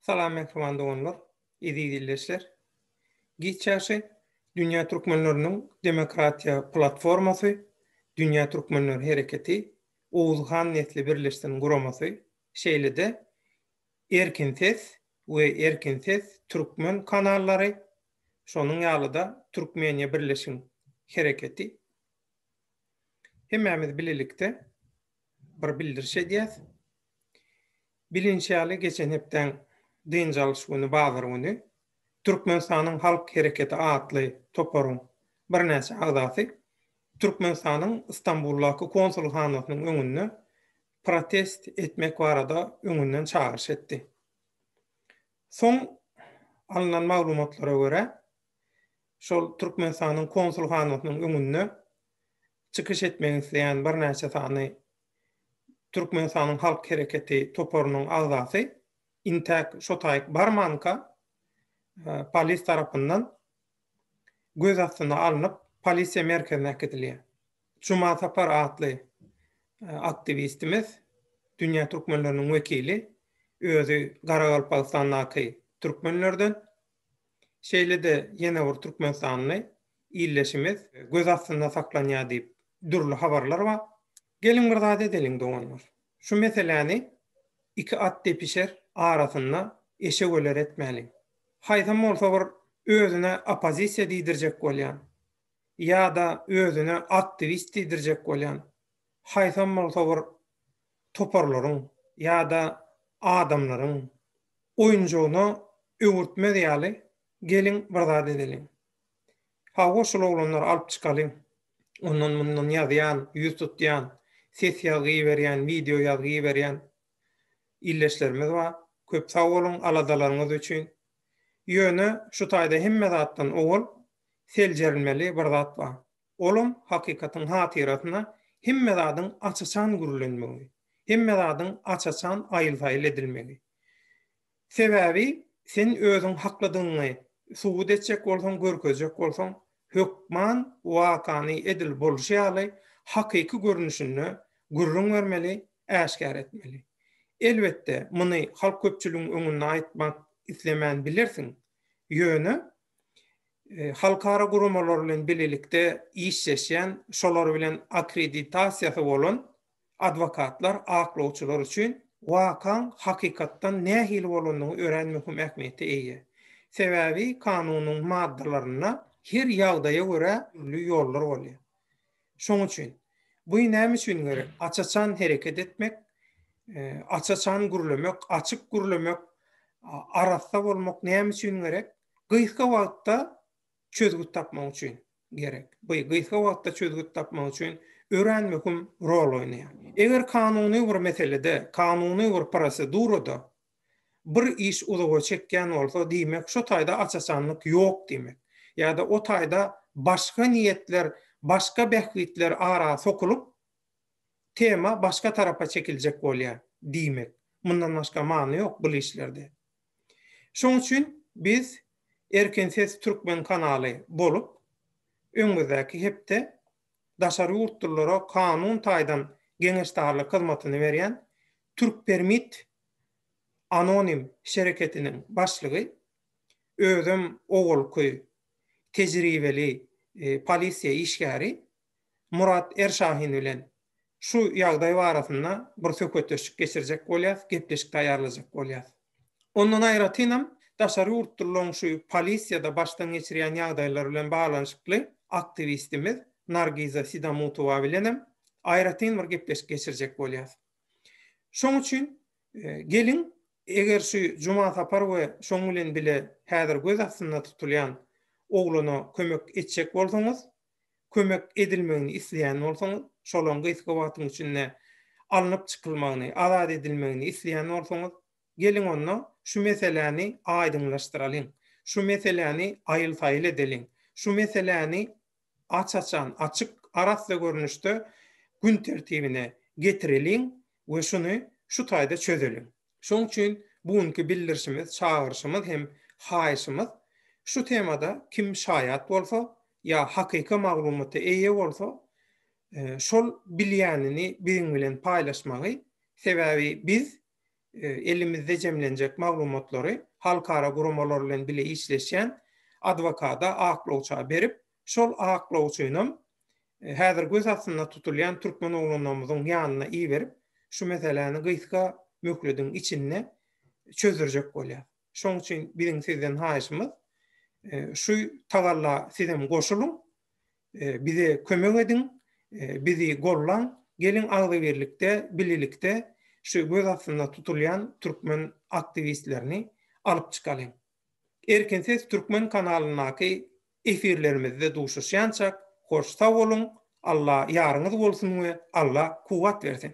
Salam mähriban doganlar, eziz ildeşler! Giç ýagşy, Dünýä Türkmenleriniň Demokratiýa Platformasy, Dünýä Türkmenleri Hereketi, Oguz Han Nesli Birleşsin guramasy, şeýle-de Erkin Ses we Erkin Ses Türkmen kanallary, şonuň ýaly-da Türkmeniýa Birleşiň Hereketi Hemmämiz bilelikde bir bildiriş edýäs. Bilinişi ýaly, geçen hepdäň dynç alyş güni, bazar güni Türkmenistanyň Halk Hereketi atly toparyň birnäçe agzasy Türkmenistanyň Stambuldaky konsulhanasynyň öňünde protest etmek barada öňünden çagyryş etdi. Soň alnan maglumatlara görä, şol Türkmenistanyň konsulhanasynyň öňünde çykyş etmek isleýän birnäçe sany Türkmenistanyň Halk Hereketi toparynyň agzasy intäk şo taýyk barmanka polis tarapyndan göz astyna alnyp, polisiýa merkezine äkidilýär. Juma Sapar atly aktiwistimiz, dünýä türkmenleriniň wekili, özi Garagalpagystandaky türkmenlerden, Şeýle-de ýene bir türkmenistanly ildeşimiz göz astynda saklanýar diýip dürli habarlar bar. Geliň bir zat edeliň doganlar. Şu meseläni iki at depişer arasynda eşeguler etmäliň. Haýsam bolsa bir özüne oppozisiýa diýdirjek bolýan ýa-da özüne aktiwist diýdirjek bolýan haýsam bolsa bir toparlaryň ýa-da adamlaryň oýunjygyna öwürtmez ýaly geliň bir zat edeliň. Hawa, şol oglanlary alyp çykalyň. Ondan-mundan ýazýan, ýüz tutýan, ses ýazgy iberýän, wideo ýazgy iberýän ildeşlerimiz bar. Köp sag boluň aladalaryňyz üçin. Ýöne şu taýda hemme zatdan owal seljerilmeli bir zat bar. Olam hakykatyň hatyrasyna hemme zadyň aç-açan gürlenmegi, hemme zadyň aç-açan aýyl-saýyl edilmegi. Sebäbi sen özüň haklydygyňy subut etjek bolsaň, görkezjek bolsaň, hökman wakany edil bolşy ýaly hakyky görnüşinde gürrüň bermeli, äşgär etmeli. Elbetde, muny halk köpçüligiň öňünde aýtmak islemän bilersiň, ýöne halkara guramalary bilen bilelikde işleşýän, şolar bilen akkreditasiýasy bolan adwokatlar, aklawçylar üçin wakaň hakykatdan nähili bolandygy örän möhüm ähmiýete eýe. Sebäbi kanunyň maddalarynda her ýagdaýa görä dürli ýollar bolýar. Şoň üçin, buý näme üçin gerek? Aç-açan hereket etmek, e, aç-açan gürlemek, açyk gürlemek, arassa bolmak näme üçin gerek? Gysga wagtda çözgüt tapmak üçin gerek. Bu gysga wagtda çözgüt tapmak üçin örän möhüm rol oýnaýar. Eger kanuny bir meselede, kanuny bir prosedurada Bir iş uzaga çekýän bolsa, diýmek, şo taýda aç-açanlyk ýok diýmek. Ýa-da o taýda başga niýetler, başga bähbitler ara sokulyp, tema başga tarapa çekiljek bolýar diýmek. Mundan başga many ýok bul işlerde. Şoň üçin biz Erkin ses türkmen kanaly bolup, öňümizdäki hepde daşary ýurtlulara kanun taýdan geňeşdarlyk hyzmatyny berýän Türkpermit anonim şereketiniň başlygy, özem owalky tejribeli polisiýa işgäri Murat Erşahin bilen Şu ýagdaý barasynda bir söhbetdeşlik geçirjek bolýas, gepleşik taýýarlajak bolýas. Ondan aýratynam, daşary ýurtlylaň şu polisiýada başdan geçirýän ýagdaýlary bilen baglanyşykly aktiwistimiz Nargiza Sidamutowa bilenem aýratyn bir gepleşik geçirjek bolýas. Şoň üçin geliň, eger şu Juma Sapar we şoň bilen bile häzir göz astynda tutulýan oglana kömek etjek bolsaňyz, kömek edilmegini isleýän bolsaňyz, şolaň gysga wagtyň içinde alnyp çykylmagyny, azat edilmegini isleýän bolsaňyz, geliň onda şu meseläni aýdyňlaşdyralyň, şu meseläni aýyl-saýyl edeliň, şu meseläni aç-açan, açyk, arassa görnüşde gün tertibine getireliň we şuny şu taýda çözeliň. Şoň üçin bu günki bildirişimiz, çagyryşymyz hem haýyşymyz şu temada kim şaýat bolsa ýa hakyky maglumata eýe bolsa, şol bilýänini biziň bilen paýlaşmagy, sebäbi biz elimizde jemlenjek maglumatlary halkara guramalar bilen bile işleşýän adwokada, aklawça berip, şol aklawçynam häzir göz astynda tutulýan türkmen oglanlarymyzyň ýanyna iberip, şu meseläni gysga möhlediň içinde çözdürjek bolýar. Şonuň üçin biziň sizden haýyşymyz, e, şu tagalla sizem goşulyň, e, bize kömek ediň, e, bizi gollan, geliň agzybirlikde, bilelikde şu göz astynda tutulýan türkmen aktiwistlerini alyp çykalyň. Erkin ses türkmen kanalyndaky efirlerimizde duşuşýançak hoş sag boluň, Alla ýaryňyz bolsun we Alla kuwwat bersin.